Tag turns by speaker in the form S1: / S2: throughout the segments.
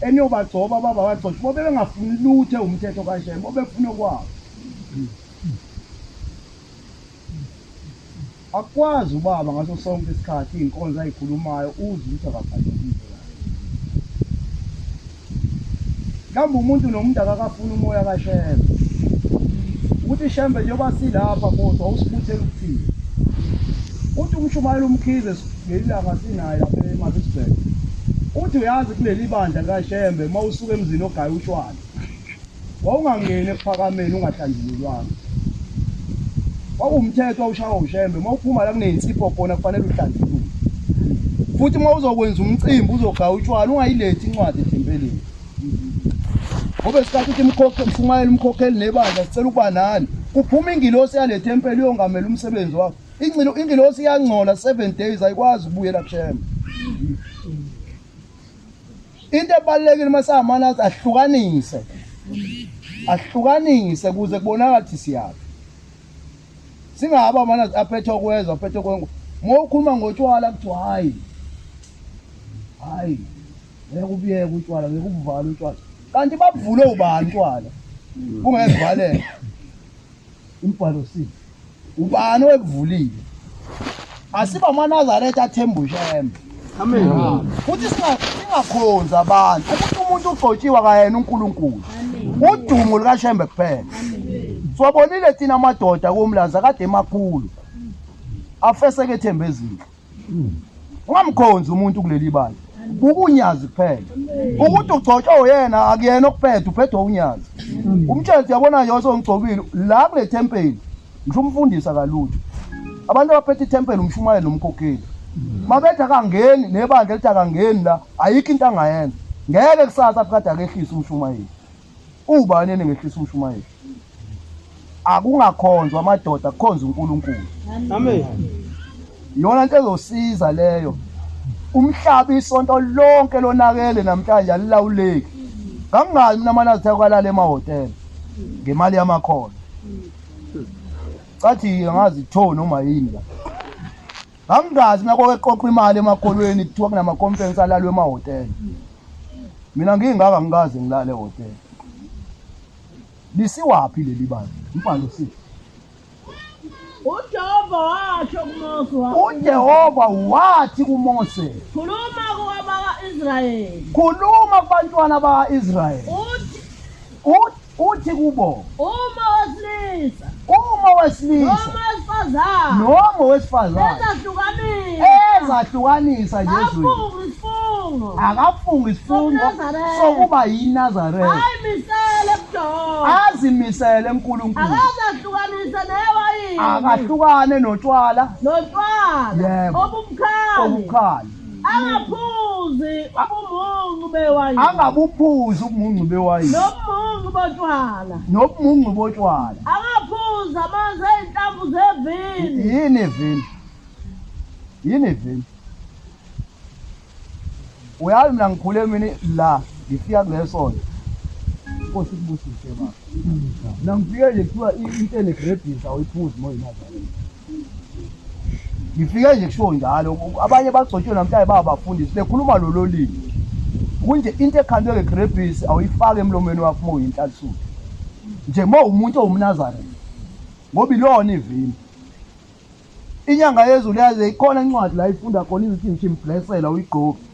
S1: eniyobagcoba baba bagcoshe bobe bengafuni luthe umthetho kashema bobefuna okwabo akwazi ubaba ngaso sonke isikhathi iy'nkonzo ayikhulumayo uze ukuthi akafanelile mhlawumbe umuntu nomuntu akakafuni umoya kashembe ukuthi shembe njengoba silapha kodwa usibuthela ukuthini uthi umshumayela umkhize Ngelilanga sinaye lapha eMaritzburg. Uthi uyazi kuleli bandla likaShembe uma usuka emzini ogaya utshwala. Wawungangeni ekuphakameni ungahlanjululwanga. Wawumthetho awushawa uShembe uma uphuma la kuneyinsipho khona kufanele uhlanjululwe. Futhi uma uzokwenza umcimbi uzogaya utshwala ungayilethi incwadi ethempelini. Ngoba isikhathi ukuthi imkhokhe mshumayela umkhokheli nebandla sicela ukuba nani. Kuphuma ingilosi yalethempeli uyongamela umsebenzi wakho. Ingcilo ingilosi iyangcola 7 days ayikwazi ukubuyela kushema. Into ebalekile uma samana ahlukanise. Ahlukanise kuze kubonakala ukuthi siyaphi. Singaba mana aphethe okwezwa aphethe okwengu. Mawukhuluma ngotshwala kuthi hayi. Hayi. Ngeke ubiyeke utshwala ngeke ubuvale utshwala. Kanti babuvule ubani utshwala? Kungezivalela. Umbhalo sithi ubani owekuvulile asiba amanazaretha athemba ushembe Amen. futhi singa- singakhonzi abantu ukuthi umuntu ugcotshiwe akayena unkulunkulu udumo lukashembe kuphela siwabonile thina amadoda komlanza kade emakhulu afeseke ethemba ezinhle ungamkhonzi umuntu kuleli bala buka unyazi kuphela ukuthi ugcotshwa uyena akuyena okuphethe uphethwe unyazi umtshele yabona yonke ongigcobile la kule tempeli ngisho umfundisa kalutho abantu abaphethe ithempeli umshumayeli nomkhokheli mabethi akangeni nebandla elithi akangeni la ayikho into angayenza ngeke kusasa phikade akehlise umshumayeli Ubani eningehlisa umshumayeli? Akungakhonzwa amadoda kukhonza uNkulunkulu. Amen. Iyona nto ezosiza leyo. Umhlaba isonto lonke lonakele namhlanje alilawuleki. Kangazi mina mana zithe kwalala emahotela ngemali yamakhona. Cathi angazi tho noma yini la. Angazi mina kwake qoqa imali emakolweni kuthiwa kunama conference alalwe ema hotel. Mina ngingaka ngikaze ngilale hotel. Lisiwaphi leli bani? Impande sithi uJehova washo kuMose wathi, uJehova wathi kuMose, khuluma
S2: kuwabaka-Israyeli, khuluma
S1: kubantwana baka-Israyeli, uthi Ut- uthi kubo Uma wesilisa uma owesilisa noma wesifazane noma owesifazane ezahlukanisa ezahlukanisa njezweni afunga isifungo akafunga isifungo Sobunazaretha. sokuba yinazaretha ayimisele ebudoda azimisele enkulunkulu akazahlukanise newayini akahlukane notshwala notshwala Yebo. obumkhali obukhala angaphuzi ubumuncu bewayini angabuphuzi ubumuncu bewayini nobumuncu botshwala nobumuncu botshwala angaphuzi
S2: amanzi ezinhlamvu zevini yini ivini
S1: yini ivini uyazi mina ngikhule mina la ngifika kulesonto inkosi kubusise baba mina ngifike nje kuthiwa intene grebhisa awuyiphuzi moyinazareni ngifike nje kushiwo njalo abanye bagcotshwe namhlanje babafundisi bekhuluma lolo limi kunje into ekhandwe ngegrebhisi awuyifake emlomeni wakho uma uyinhlathulo nje uma umuntu owumnazareth ngoba ilona ivini inyanga yezulu yaze ikhona incwadi la ifunda khona izithi ngishimblesela uyigqoki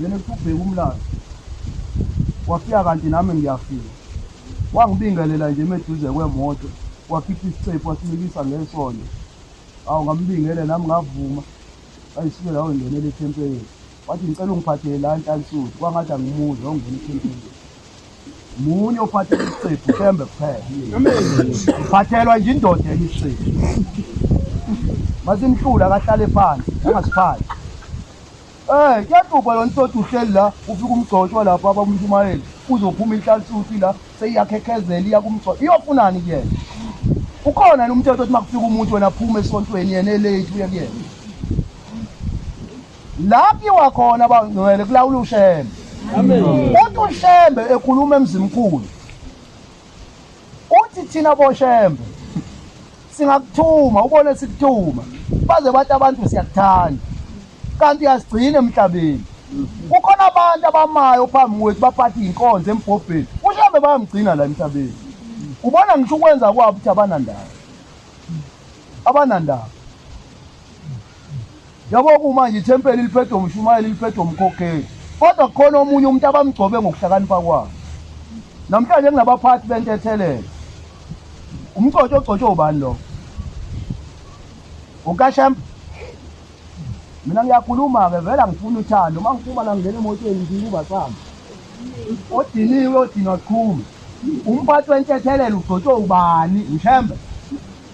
S1: yena usubheka umlando wafika kanti nami ngiyafika wangibingelela nje meduze kwemoto wakhipha isicephu wasimikisa ngesondo awu ngambingele nami ngavuma ayisuke lawo ngenele ethempelini wathi ngicela ungiphathele la ntansuthi kwangathi angimuzi ongena ethempelini munye ophathela isicephu thembe kuphela ngiphathelwa nje indoda elisiphu masimhlula kahlale phansi angasiphathi Eh kuyaqubha yona isodwa uhleli la ufika umgcotshwa lapha abamshumayeli uzophuma inhlalsuthi la seyiyakhekhezela iya kumgcotshwa iyofunani kuyena ukhona yena umthetho othi makufika umuntu wena aphume esontweni yena elate uye kuyena la kuyiwa khona abangcwele kulawula ushembe uthi ushembe ekhuluma emzimkhulu uthi thina boshembe singakuthuma ubone sikuthuma baze bathi abantu siyakuthanda kanti asigcine emhlabeni kukhona abantu abamayo phambi kwethu baphatha iy'nkonzo embhobheni ushembe bayamgcina la emhlabeni ubona ngisho ukwenza kwabo ukuthi abanandaba abanandaba Yabo kumanje ithempeli liphethwe umshumayeli liphethwe umkhokheli. Kodwa kukhona omunye umuntu abamgcobe ngokuhlakanipha kwabo. Namhlanje kunabaphathi bentethelelo. Umcotsho ogcotshwe ubani lo? Ukashemp. Mina ngiyakhuluma ke vela ngifuna uthando. Uma ngiphuma la ngingena emotweni ngiyiba sami. Odiniwe odinwa sikhulu. Umphathi wentethelelo ugcotshwe ubani? Ushembe.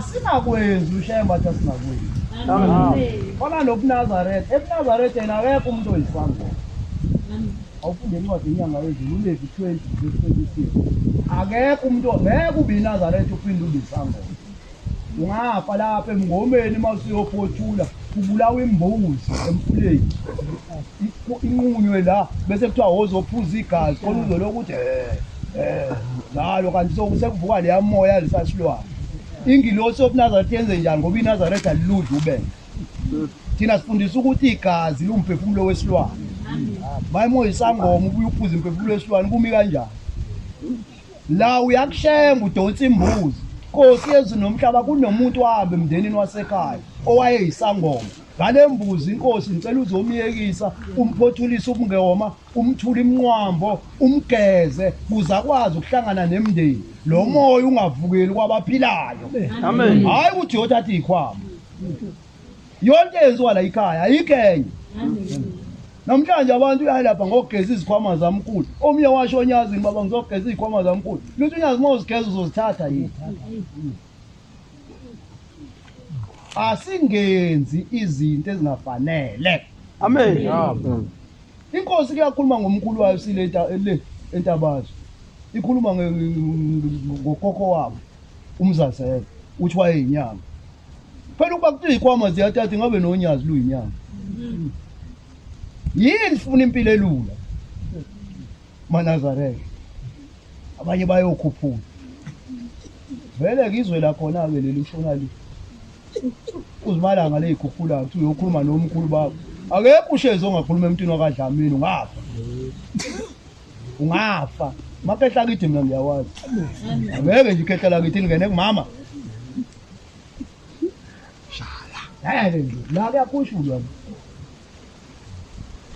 S1: sinakwenzi ushaye mbatha sinakwenzi khona nobunazaretha ebunazaretha yena akekho umuntu oyisangoma awufunde incwadi inyanga yezulu ulevi 20 26 akekho umuntu ngeke ube inazaretha uphinde ube isangoma ungafa lapha emngomeni uma usuyophothula kubulawa imbuzi emfuleni inqunywe la bese kuthiwa wozophuza igazi khona uzolo ukuthi eh njalo kanti sekuvuka leya moya lisasilwana ingilosi yobunazaretha yenze njani ngoba inazaretha liludla ubele thina sifundisa ukuthi igazi liwumphefumulo wesilwane mayimoya isangoma ubuye uphuza imphefumulo wesilwane kumi kanjani la uyakuhlenga udonsa imbuzi nkosi yezulu nomhlaba kunomuntu wahambe emndenini wasekhaya owayeyisangoma ngale mbuzi inkosi ngicela uzomyekisa umphothulise ubungewoma umthule imnqwambo umgeze kuze akwazi ukuhlangana nemndeni lo moya ungavukeli kwabaphilayo Amen. hhayi ukuthi yothatha iy'khwama yonke yenziwa la ikhaya ayikho enye namhlanje abantu uyalapha ngokugeza izikhwama zamkhulu omnye washo onyazini baba ngizogeza izikhwama zamkhulu lithi unyazi uma uzigeza uzozithatha yini asingenzi izinto ezingafanele amen inkosi kuyakhuluma ngomkhulu wayo sile le entabazwe ikhuluma ngokhokho wabo umzazela uthi wayeyinyanga phela ukuba kuthiwa ikwama ziyatata ingabe nonyazi luyinyanga yini sifuna impilo elula manazareke abanye bayokhuphula vele-ke izwe lakhona-ke leli ushona li uzimalanga leyikhuphula kuthi uyokhuluma nomkhulu bakho akekho ushezi ongakhuluma emntwini wakadlamini ungafa ungafa makehla kithi mina ngiyawazi ngeke nje ikhehla lakithi lingene kumama shala yayale nje la kuyakushulwa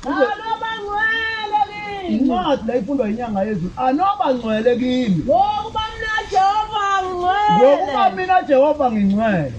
S1: anobangcwele kimi incwadi la ifundwa inyanga yezulu anobangcwele kimi ngokuba mina
S2: jehova ngcwele ngokuba mina
S1: jehova ngingcwele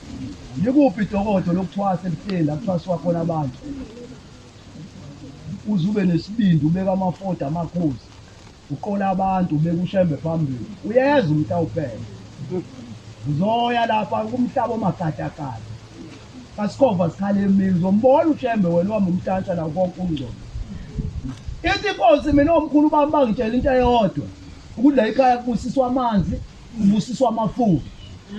S1: Likuphi idokodo lokuthwasa ebuhleni la kuthwaswa khona abantu? Uze ube nesibindi ubeka amafoda amakhosi uqola abantu ubeka ushembe phambili uyeza umuntu awuphele uzoya lapha kumhlaba omagadagada kasikhova sikhale emini uzombona ushembe wena uhamba umtantsha la konke ungcono ithi inkosi mina omkhulu bami bangitshela into eyodwa ukuthi la ikhaya kubusiswa amanzi Ubusiswa amafudu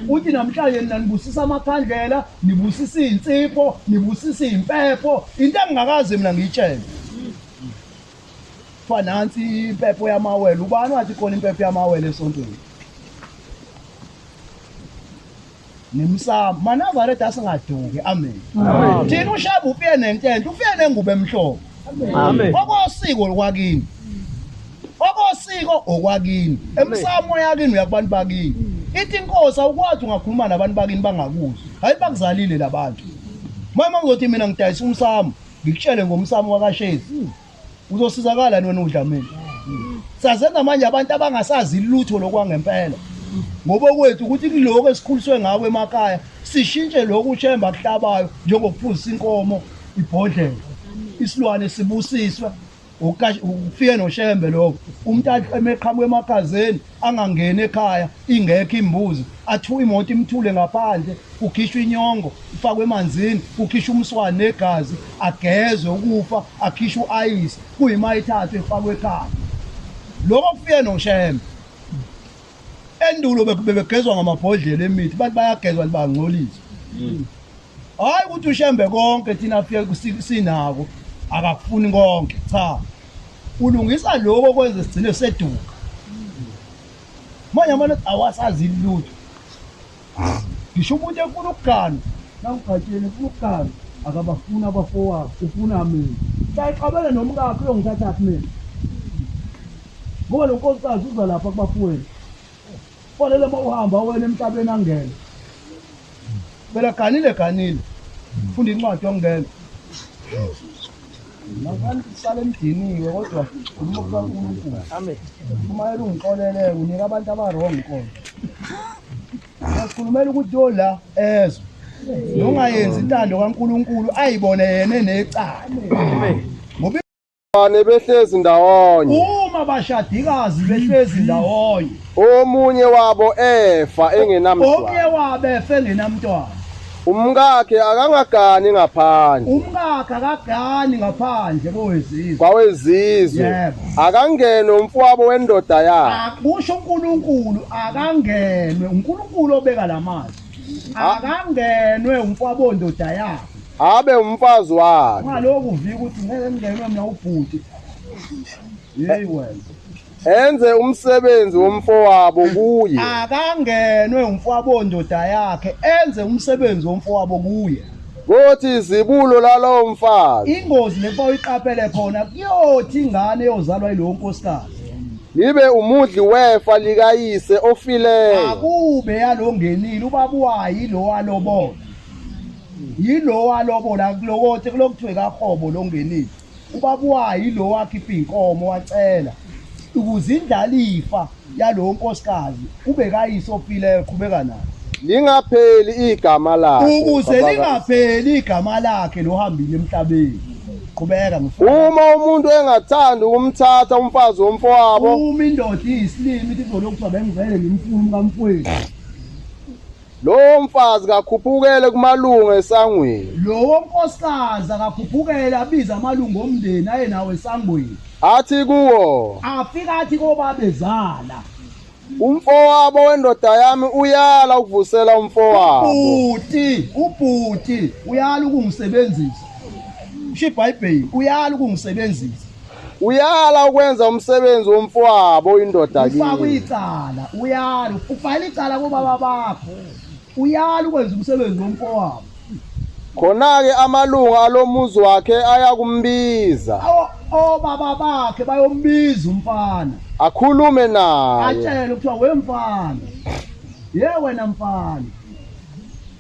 S1: uthi namhlanje nina nibusisa amakhandlela nibusisa iy'nsipho nibusisa iy'mpepho into engingakaze mina ngiyitshele kuthiwa nansi impepho yamawele ubani wathi khona impepho yamawele esontweni nemsamo manazaretha asingaduki amen thina ushaba ufiye nentenhle ufiye nengubo emhlophe okosiko okwakini okosiko okwakini emsamo yakini uyakubantu bakini ithi inkosi awukwazi ungakhuluma nabantu bakini bangakuzwa hayi bakuzalile labantu mama uzothi mina ngidayisa umsamo ngikutshele ngomsamo wakashezi uzosizakala wena udlamini saze namanje abantu abangasazi lutho lokwangempela ngoba kwethu ukuthi kuloko esikhuliswe ngako emakhaya sishintshe lokhu ushemba kuhlabayo njengokuphuzisa inkomo ibhodlela isilwane sibusiswe ukufike noshembe lokho umuntu emeqhamuka emakhazeni angangeni ekhaya ingekho imbuzi athiwa imoto imthule ngaphandle kukhishwa inyongo ifakwe emanzini kukhishwa umswane negazi agezwe ukufa akhishwa uayisi kuyima ithathu efakwe ekhaya lokho kufike noshembe endulo bebegezwa ngamabhodlela emithi bathi bayagezwa libangcolisa mm. hayi ukuthi ushembe konke thina afike sinako akakufuni konke cha ulungisa lokho kwenze sigcine seduka manje amane awasazi lutho ngisho umuntu efuna ukugana nawugatsheni ufuna ukugana akabafuni abafowabo ufuna mina sayixabele nomkakho uyongithathaphi mina ngoba lo nkosikazi uza lapha kubafowenu Fanele uma uhamba wena emhlabeni angene. Phela ganile ganile. Funda incwadi yokungena. Ngakani sisale emdiniwe kodwa umuntu kaNkulunkulu. Amen. Uma elungixolele unika abantu abarong inkolo. Asikhulumela ukuthi yo la ezwe. Nongayenzi intando kaNkulunkulu ayibone yena enecala. Amen. Bane behlezi
S3: ndawonye. Uma bashadikazi
S1: behlezi ndawonye. Omunye
S3: wabo efa engenamntwana. Omunye wabo efa
S1: engenamntwana. Umkakhe
S3: akangagani ngaphandle. Umkakhe
S1: akagani ngaphandle kowezizwe. Kwawezizwe.
S3: Yebo.
S1: Akangene
S3: umfowabo wendoda yakhe. Akusho uNkulunkulu
S1: akangenwe uNkulunkulu obeka lamazwi. akangenwe umfwabondoda yakhe abe umfazi
S3: wakhe ngaloku vika ukuthi
S1: ngeke ngenwe mina ubhuti hey wena enze
S3: umsebenzi womfowabo kuye akangenwe
S1: umfwabondoda yakhe enze umsebenzi womfowabo kuye kothi
S3: izibulo lalowo mfazi ingozi lefa
S1: uyiqaphele khona kuyothi ingane eyozalwa yilowo nkosikazi Ngibe
S3: umudli wefa likayise ofileyo. Akube
S1: yalongenile ubaba wayi lo walobola. Yilo walobola kulokothi kulokuthiwe kahobo longenile. Ubaba wayi lo wakhipha inkomo wacela ukuze indlalifa yalo nkosikazi kube kayise ofileyo qhubeka nayo. Lingapheli
S3: igama lakhe. Ukuze lingapheli
S1: igama lakhe lohambile emhlabeni. qhubeka mfowethu uma umuntu
S3: engathandi ukumthatha umfazi womfowabo uma indoda
S1: iyisilimi ithi kuzolokhu kuthiwa bengivele ngimfuna umkamfowethu
S3: lowo mfazi kakhuphukele kumalungu esangweni lowo nkosikazi
S1: akakhuphukele abize amalungu omndeni aye nawo esangweni athi kuwo
S3: afika athi
S1: kobabezala
S3: Umfowabo wendoda yami uyala ukuvusela umfowabo. Ubhuti,
S1: ubhuti uyala ukungisebenzisa. Usho iBhayibheli, uyala ukungisebenzisa. Uyala
S3: ukwenza umsebenzi womfowabo indoda kimi. Ufaka icala,
S1: uyala, ufayela icala kubaba bakho. Uyala ukwenza umsebenzi womfowabo. Khona-ke
S3: amalunga alomuzi wakhe ayakumbiza. Obaba
S1: bakhe bayombiza umfana. Akhulume
S3: naye. Atshele kuthiwa
S1: wemfana. Ye wena mfana.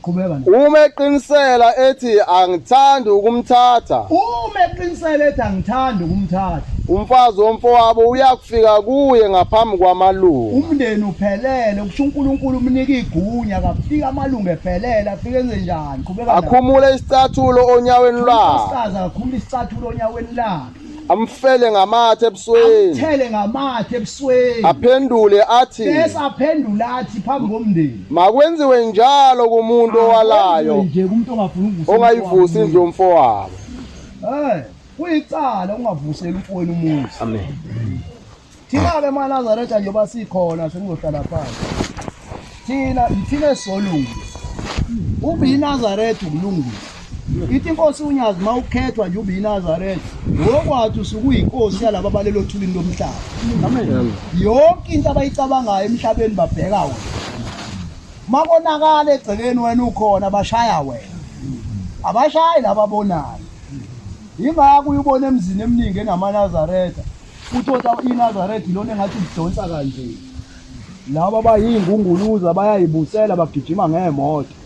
S1: Qhubeka nje. Uma eqinisela
S3: ethi angithandi ukumthatha. Uma eqinisela
S1: ethi angithandi ukumthatha. Umfazi
S3: womfowabo uyakufika kuye ngaphambi kwamalunga. Umndeni uphelele
S1: Kusho uNkulunkulu umnika igunya akafika amalungu ephelele afike enze njani qhubeka akhumule isicathulo
S3: onyaweni lwakhe usaza akhumule isicathulo
S1: onyaweni lakhe amfele
S3: ngamathe ebusweni thele ngamathe
S1: ebusweni aphendule
S3: athi bese aphendula
S1: athi phambi komndeni makwenziwe
S3: njalo kumuntu owalayo nje kumuntu ongafuni
S1: ukuvusa ongayivusi indlu yomfo
S3: wabo eh kuyicala
S1: ungavuseli umfowenu umuzi amen Thina-ke maNazaretha njengoba sikhona senizohlala phansi thina yithina esisolungisa ube yinazaretha ukulungisa ithi inkosi unyazi uma ukhethwa nje ube yinazaretha ngokwathi usuke uyinkosi yalaba abalelo othulini lomhlaba yonke into abayicabangayo emhlabeni babheka wena makonakala egcekeni wena ukhona bashaya wena abashayi laba bonayo yingakho uyubona emzini eminingi enamanazaretha Uthotha iNazaretha ilona engathi udonsa kanje. Laba bayingunguluza bayayibusela bagijima ngeemoto.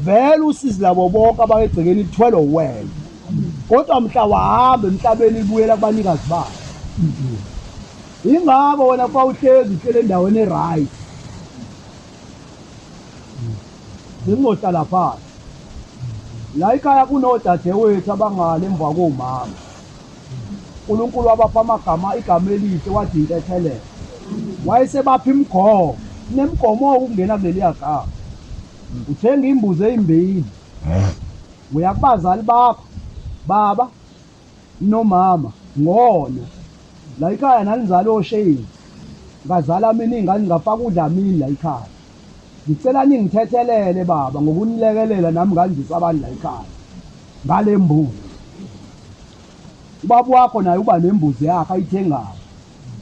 S1: Vele usizi labo bonke abakegcekeni ithwele wena. Kodwa mhla wahamba emhlabeni ibuyela kubanikazi bayo. Ingakho wena kuba uhlezi uhlele endaweni e-right. Bengingohlala phansi. La ikhaya kunodadewethu abangale emva komama. uNkulunkulu wabapha amagama igama elihle wathi intethelelo wayesebapha imigomo nemgomo ukungena kuleliya gama uthenga imbuzi eyimbili uya kubazali bakho baba nomama ngona la ikhaya nanizala osheyini ngazala mina ingane ngafaka udla mini la ikhaya ngicela ningithethelele baba ngokunilekelela nami ngandisa abani la ikhaya ngale mbuzi ubaba wakho naye uba nembuzi yakhe ayithengayo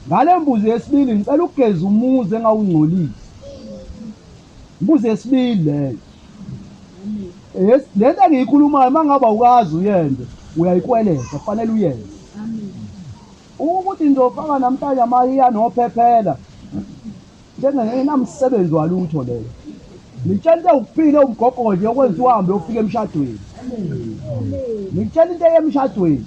S1: ngale mbuzi yesibili ngicela ukugeza umuzi engawungcolisi mbuzi yesibili leyo lento engiyikhulumayo uma ngaba ukazi uyenze uyayikweleza kufanele uyenze ukuthi ngizofaka namhlanje amahiya nophephela njengengenamsebenzi walutho leyo ngitshela into ewuphile umgogodli yokwenza uhambe yofika emshadweni ngitshela into eyemshadweni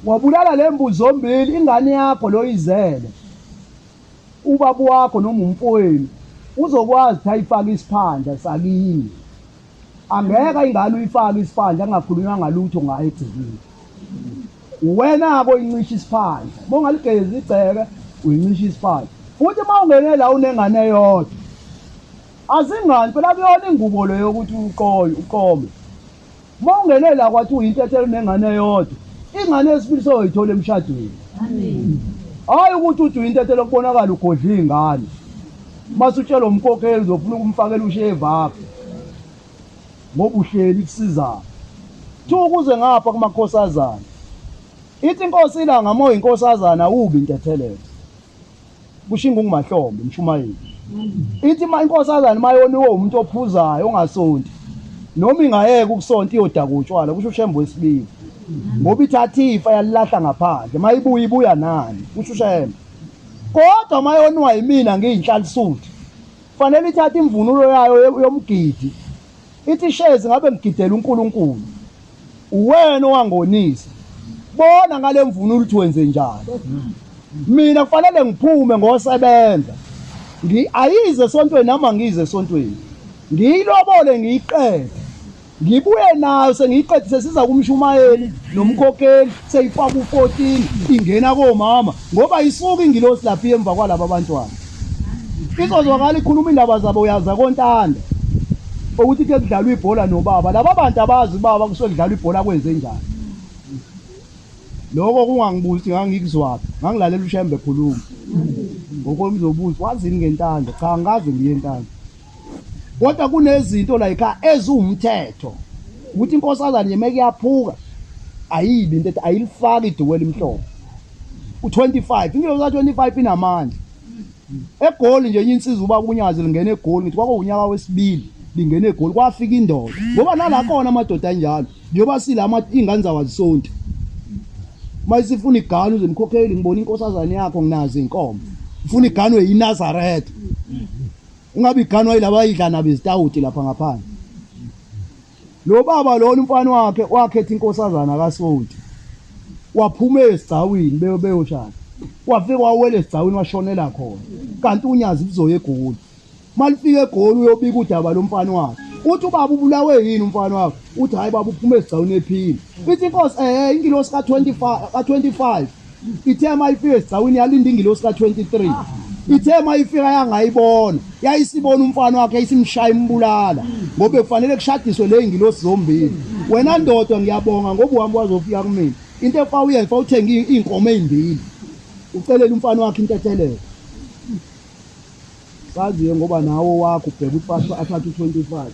S1: wabulala le mbuzi zombili ingane yakho loyizele ubaba wakho noma umfowenu uzokwazi ukuthi ayifake isiphandla sakini angeke ingane uyifake isiphandla angakhulunywa ngalutho ngayo egcikile Wena-ke oyincisha isiphandla, uma ungaligezi igceke uyincisha isiphandla. Futhi uma ungene la unengane eyodwa, azingani phela kuyona ingubo le yokuthi uqoye uqome. Uma ungene la kwathi uyintethela unengane eyodwa, ingane yesibili soyoyithola emshadweni. Hhayi ukuthi uthi uyintethela kubonakala ugodla iy'ngane, uma sutshelwa umkhokheli uzofuna ukumfakela ushevu apho. ngoba uhleli kusizana kuthiwa ukuze ngapha kumakhosazana ithi inkosi ilanga moya inkosazana awubi intethelelo kusho ingungumahlombe umshumayeli ithi ma inkosazana mayoniwe umuntu ophuzayo ongasonti noma ingayeka ukusonta iyodaka utshwala kusho ushembe wesibili ngoba ithatha ifa yalilahla ngaphandle mayibuya ibuya nani kusho ushembe kodwa mayoniwa yimina ngiyinhlalisuthi Kufanele ithathe imvunulo yayo yomgidi. Ithi shezi ngabe ngigidela uNkulunkulu. Uwena owangonisa. Bona ngale mvunulo ukuthi wenze njani. Mina kufanele ngiphume ngosebenza. Ngi ayize esontweni nami angize esontweni. Ngiyilobole ngiyiqede. Ngibuye nayo sengiyiqedise siza kumshumayeli nomkhokheli seyifaka u-14 ingena komama ngoba isuke ingilosi lapha emva kwalabo abantwana. Izozwakala ikhuluma indaba zabo uyaza kontanda ukuthi ke kudlalwa ibhola nobaba. Laba bantu abazi baba kusuke kudlalwa ibhola kwenze njani. Lokho kungangibuzi ngangikuzwaphi. Ngangilalela uShembe ekhuluma. Ngokomzobuzo wazini ngentanda? Cha ngikaze ngiye entanda. kodwa kunezinto like eziwumthetho ukuthi inkosazane yemeke iyaphuka ayibi into ethi ayilifaki iduku elimhlophe u25 ingelo za 25 inamandla egoli nje insizwa uba kunyazi lingena egoli ngithi kwakuwunyaka wesibili lingena egoli kwafika indoda ngoba nala khona amadoda anjalo njengoba silama ingane zawazisonti mayisifuna iganu zemkhokheli ngibona inkosazane yakho nginazi inkomo ufuna iganu yinazaretha Ungabe iganwa yilaba idla nabo izitawuti lapha ngaphandle. Lo baba lona umfana wakhe wakhetha inkosazana kaSonti. Waphuma esigcawini beyo beyoshana. Wafika wawela esigcawini washonela khona. Kanti unyazi kuzoya egoli. Malifika egoli uyobika udaba lomfana wakhe. Uthi ubaba ubulawe yini umfana wakhe? Uthi hayi baba uphuma esigcawini ephila. Ithi inkosi eh ingilosi ka25 ka25 ithe uma ifika esigcawini yalinda ingilosi ka-23 ithe uma ifika yangayibona yayisibona umfana wakhe isimshaya imbulala ngoba kufanele kushadiswe le ngilosi zombili wena ndoda ngiyabonga ngoba uhambe wazofika kumina into efa uyenza fa uthenge iy'nkomo ey'mbili ucelela umfana wakhe intethelelo saziye ngoba nawo wakho ubheka ukuthi athathe u-twenty five